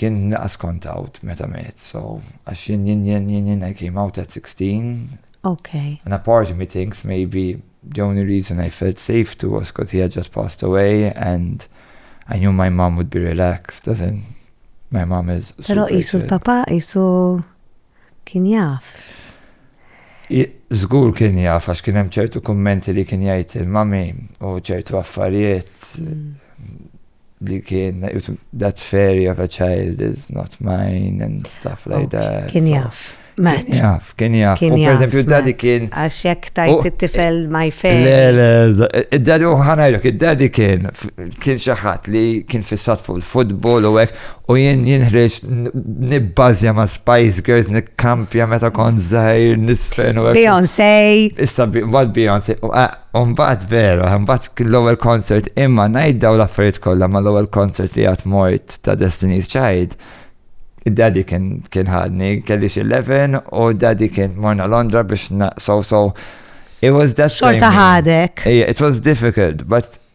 Kien naqas kont out meta miet, so, għax jien jien jien jien jien I came out at 16. Ok. And a part of me thinks maybe the only reason I felt safe too was cos he had just passed away and I knew my mom would be relaxed, as in my mom is super. Pero qisu l-papa, qisu. kien jaf. Żgur kien jaf għax kien hemm ċertu kummenti li kien jgħid il-mami u ċertu affarijiet li kien that fairy of a child is not mine and stuff like oh, that. Kien jaf. Matt. Jaf, kien jaf. U per eżempju, dadi kien. Għax jek tajt it-tifel my fair. Le, le, id-dadi u ħanajlok, id-dadi kien kien xaħat li kien fissat fuq il-futbol u għek U jien jien ħriġt nibbażja ma' Spice Girls nikkampja meta kont żgħir nisfen u Beyoncé. Issa mbagħad Beyoncé. U mbagħad vera, mbagħad l-ewwel concert imma ngħid daw l-affarijiet kollha ma l-ewwel concert li għad mort ta' Destiny's Child. Daddy kien kien ħadni, kelli xi 11 u daddy kien morna Londra biex so so it was that Xorta ħadek. It was difficult, but